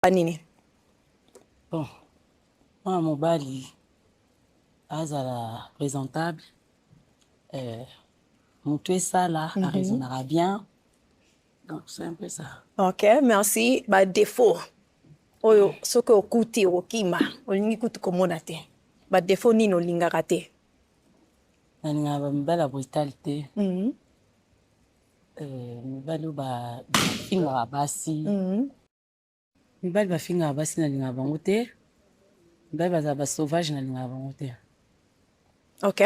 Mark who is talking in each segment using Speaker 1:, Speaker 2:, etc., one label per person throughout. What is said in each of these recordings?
Speaker 1: koloba nini
Speaker 2: bon mwana mobali azala présentable euh, motu esala mm -hmm. araisonnaka bien donc c'est un peu ça ok merci
Speaker 1: ba défaut oyo soki okuti okokima olingi kutu komona te ba défaut nini olingaka te
Speaker 2: nalingaka bamibali ya brutale te mhm. eh, mibali oyo bafingaka basi mhm. mibali bafingaka basi nalingaka bango te mibali bazala basauvage nalingaka bango te
Speaker 1: ok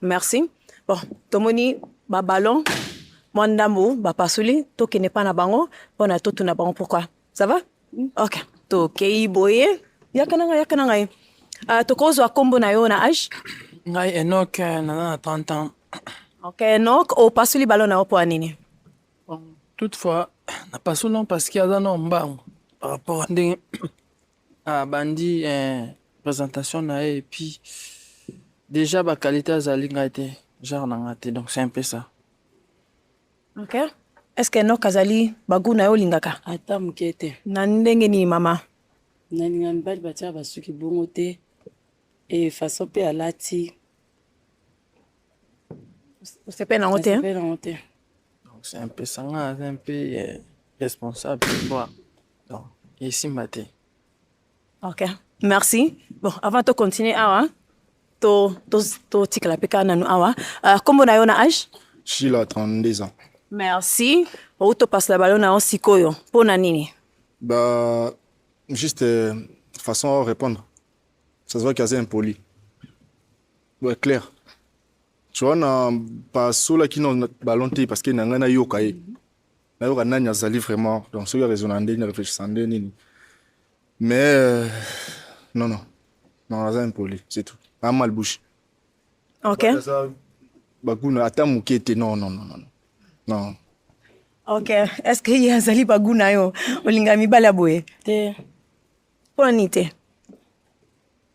Speaker 1: merci bon tomoni babalon mwa ndambo bapasoli tokende mpa na bango mpo na totuna bango pourkui ça va mm. ok tokei boye yaka na ngai yaka na ngai uh, tokozwa nkombo na yo na age ngai enok
Speaker 3: eh, naza na 30 ans ok enok
Speaker 1: opasoli balon na yo mpo ya nini
Speaker 3: toutefois na pasola parce que aza na mbangu par rapport ndenge abandi eh, présentation na ye epuis déjà baqualité azali ngai te genre na ngai te donc c'est un peu ça
Speaker 1: ok est ce que enok azali bagu na yo olingaka ata moke te
Speaker 2: na ndenge nini
Speaker 1: mama nalinga
Speaker 2: mibali batyaka basuki bongo te e façon mpe alati
Speaker 1: osepeli nango te osepeli nango te
Speaker 3: c'est un peu sanga aza un peu euh, responsable quoi donc esimba te ok
Speaker 1: merci bon avant to continuer awa to to to tikala pe kana nanu awa uh, kombo na yo na age shila 32
Speaker 4: ans merci
Speaker 1: outo pasla balo na yo sikoyo mpo na nini bah
Speaker 4: juste euh, façon à répondre ça se voit qu'il est impoli Ouais, clair. Tu vois, na pasola qui n'a ballon te parce que n'a ngana yoka ye. Na yoka nani azali vraiment. Donc ceux qui raisonnent en ne réfléchissent en nini. Mais euh, non non. Non, aza impoli, c'est tout. A mal bouche. OK. Baguna ata muke te non non non non. Non.
Speaker 1: OK. Est-ce que ye azali baguna yo? Olinga mibala boye? Te.
Speaker 2: Pona
Speaker 1: nite.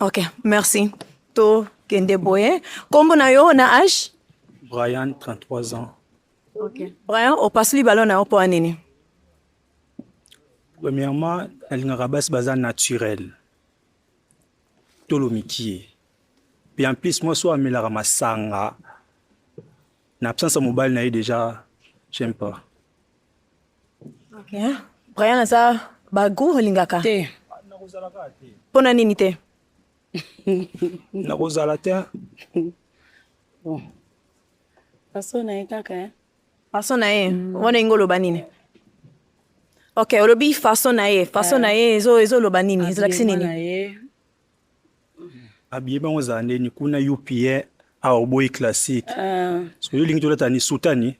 Speaker 1: Ok, merci. To kende boye. Kombo na yo na âge? Brian, 33
Speaker 5: ans. Ok.
Speaker 1: Brian, opasuli ballon na yo mpo ya nini?
Speaker 5: Premièrement, nalingaka basi baza naturel. Tolo mikie. Puis en plus, moi so amelaka masanga. Na absence ya mobali na ye déjà, j'aime pas.
Speaker 1: Hein? Brian aza bagu olingaka te mpo na nini te
Speaker 5: nakozala te bon
Speaker 2: façon na ye kaka hein? façon na ye
Speaker 1: mm. wana ingo oloba nini ok olobi façon na ye façon na ye ezoloba nini ezolakisi nini
Speaker 5: abiye bango ezala ndeni kuna upn awa oboyi classique ah. soki olingi tolata ni sutani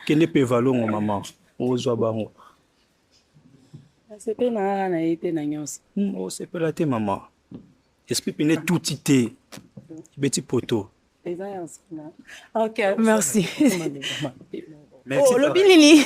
Speaker 5: kende mpe valongo mama ozwa bango
Speaker 2: asepe na kaka na ye te na nyonso hmm, osepela te
Speaker 5: mama esprit pene tuti te ebeti poto eza
Speaker 1: ya nsima ok merci
Speaker 5: olobi nini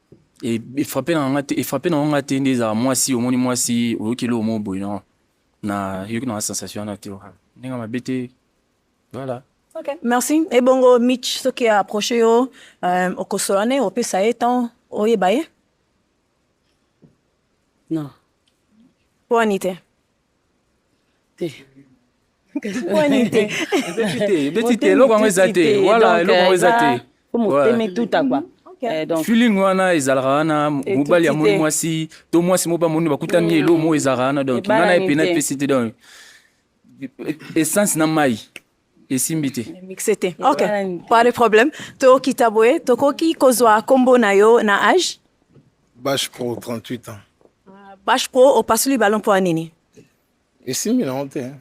Speaker 3: efrape na nga te efrape na nga te nde ezala mwasi omoni mwasi oyoki eloko moko boye na na yoki na sensation wana te ndenge mabe te voilà Okay, merci.
Speaker 1: Ebongo Mitch, ce qui a approché au euh, au Kosolane, au PSA étant au Yebaye.
Speaker 2: Non.
Speaker 1: Pour Anité. te ebeti
Speaker 3: te eloko yango eza te wala eloko yango eza te po moteme tuta
Speaker 2: kwa Eh, feeling wana ezalaka
Speaker 3: wana mobali ya moni mwasi to mwasi moko bamoni bakutani mm. elo moko ezalaka wana donc nga na ye pena epesi te donc essence na mai esimbi te mixe te ok
Speaker 1: pas de problème tokita boye tokoki kozwa nkombo na yo na age bash pro
Speaker 6: 38 ans ah, bash pro
Speaker 1: opasuli balo mpo ya nini esimbi
Speaker 6: nango te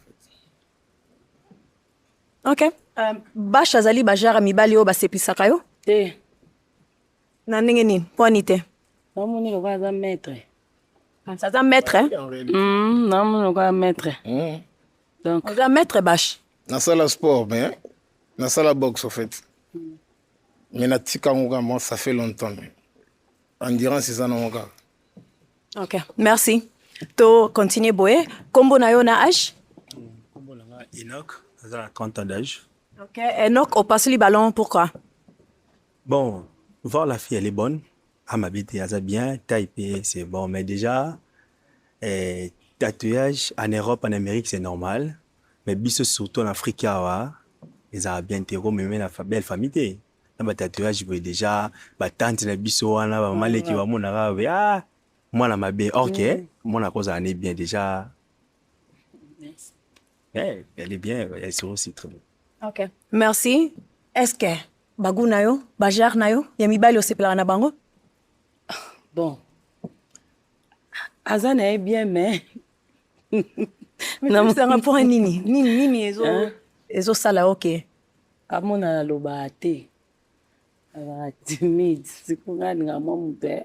Speaker 1: ok euh, bash azali bajara mibali oyo baseplisaka yo te na ndenge nini mpo ani te namoni lokola
Speaker 2: aza maître aza
Speaker 1: maître namoni
Speaker 2: lokola maître Donc oza maître bashi.
Speaker 1: Nasala sport
Speaker 6: mais nasala boxe au fait. Hmm. Mais natika ngo kama ça fait longtemps mais endurance eza na ngo kaka. OK,
Speaker 1: merci. To continuer boye, kombo na yo na âge? Kombo na nga
Speaker 5: Enoch, aza 30 ans d'âge. OK, Enoch
Speaker 1: opasoli ballon pourquoi? Bon,
Speaker 5: voir la fille elle est bonne. Ah ma bête, aza bien, taille c'est bon mais déjà Eh, tatouage en Europe, en Amérique, c'est normal. Mais biso surtout en Afrique awa, ezala bien te ko meme na belle famille te. Na ba tatouage boye déjà ba tante na biso wana ba maleki ba mona ka be ah mwana mabe or que mm. mwana ko za ne bien déjà. Yes. Eh, elle est bien, elle est aussi très bien. OK. Merci.
Speaker 1: Est-ce que bagou na yo, bajar na yo, ya mibali osepelaka na bango?
Speaker 2: bon aza na ye bien mais
Speaker 1: namusanga mpo nini nini nini ezo ezosala oke amona
Speaker 2: naloba te azala timide sikonga alinga mwa moto ya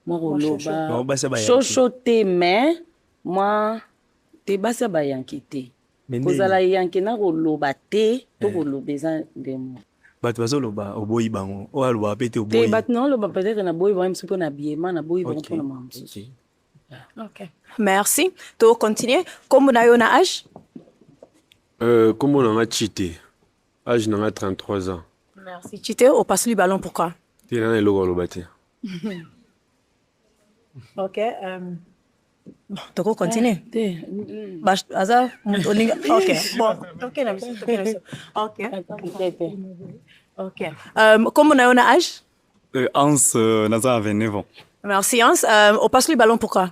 Speaker 2: mwa koloba shosho te mais mwa te basi ya bayanki te Mais ndenge kozala eyanke na koloba te to Eh. koloba eza ndemo bato bazoloba
Speaker 5: oboyi bango oyo alobaka mpe te te oboyi bato na oloba peut-être
Speaker 2: na boyi bango mosusu mpo na biema na boyi bango Ok, mpo na mawa mosusu ok. Okay.
Speaker 1: Merci. To continuer. Kombo na yo na âge?
Speaker 7: Euh, kombo na nga chite age na nga 33 ans Merci. Chite,
Speaker 1: opasuli ballon pourquoi? te nana eloko aloba
Speaker 7: te
Speaker 1: Ok. Um... toko continue eh,
Speaker 2: te aza
Speaker 1: moto olinga ok bon toke na biso toke na biso ok ok kombo na yo na age euh, ans
Speaker 8: euh, naza 29 ans merci ans euh,
Speaker 1: opasoli ballon pourquoi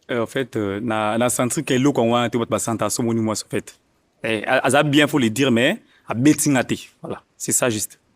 Speaker 1: en fait
Speaker 8: na na sentir ke eloko yango wana te bato basanta asomoni mwasi en fait eh, aza bien faut le dire mais abeti nga te voilà c'est ça juste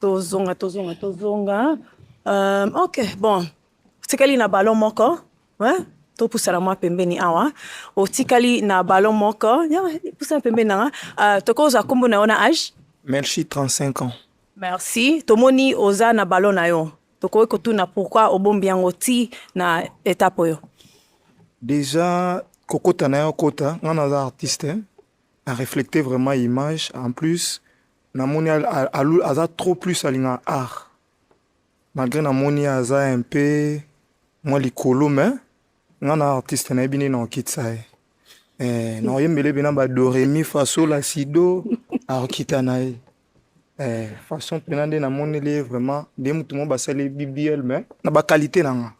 Speaker 1: Tozonga, tozonga, tozonga. Euh, ok, bon. Tikali na ballon moko. Hein? topusana mwa pembeni awa otikali na ballon moko pusana pembeni nanga uh, tokozwa nkombo na yo na age merci 35
Speaker 4: ans merci
Speaker 1: tomoni oza na ballon na yo tokoki kotuna pourquoi obombi yango ti na etape oyo déjà
Speaker 4: kokota na yo kota ngai naza artiste a reflecte vraiment image en plus namoni aza trop plus alingaka art malgré namoni aza un peu mwa likolo mais nga na artiste nayebi nini naokitisa ye eh, naoyembele mpe na badoremi fasola sido aokita na ye eh, façon mpena nde namoneli ye vraiment nde motu moko basali bbl mais na bakalite na nga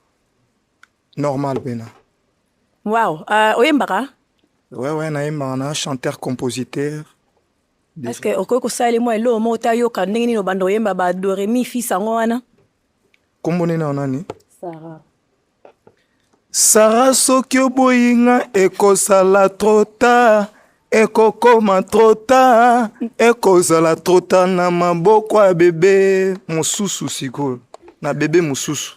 Speaker 4: normal mpena wow
Speaker 1: uh, oyembaka wewe
Speaker 4: nayembaka na chanteur compositeur Est-ce
Speaker 1: que okoki kosala ye mwa eloko moko ta yoka ndenge nini obanda oyemba ba do re mi fi sango wana? Kombo
Speaker 4: nini na nani? Sarah.
Speaker 2: Sarah
Speaker 4: soki oboyi nga ekosala trop tard ekokoma trop tard ekozala trop tard na maboko ya bebe mosusu sikoyo na bebe mosusu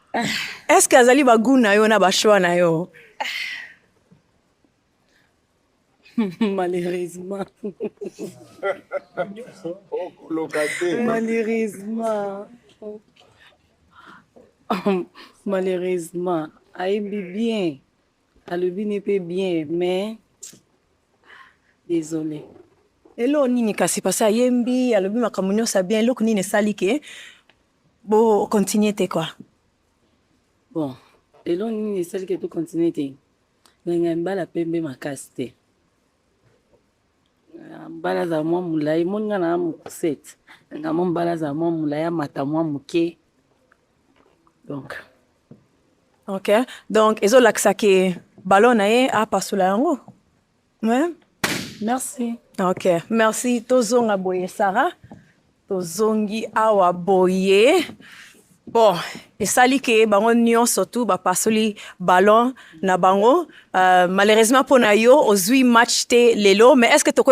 Speaker 1: Est-ce que azali ba goût na yo na ba choix na yo?
Speaker 2: Malheureusement. Malheureusement. Malheureusement. Ayebi bien. Alobi ne pe bien mais désolé. Elo nini
Speaker 1: kasi pasi ayembi alobi makambo nyonso ya bien eloko nini esali ke Bo continuer te quoi.
Speaker 2: Bon, lelo nini esali ke to continuer te? Nanga mbala pembe makasi te. Ah, mbala za mwa mulayi moni nga na mokusete. Nanga mwa mbala za mwa mulayi amata mwa moke. Donc.
Speaker 1: OK. Donc ezolakisa ke ballon na ye apasola yango. Ouais. Merci.
Speaker 2: Ok,
Speaker 1: merci. Tozonga boye Sarah. Tozongi awa boye. Bon, esali ke bango nyonso tu bapasoli ballon na bango. Euh, malheureusement mpo na yo ozwi match te lelo, mais est-ce que tokoki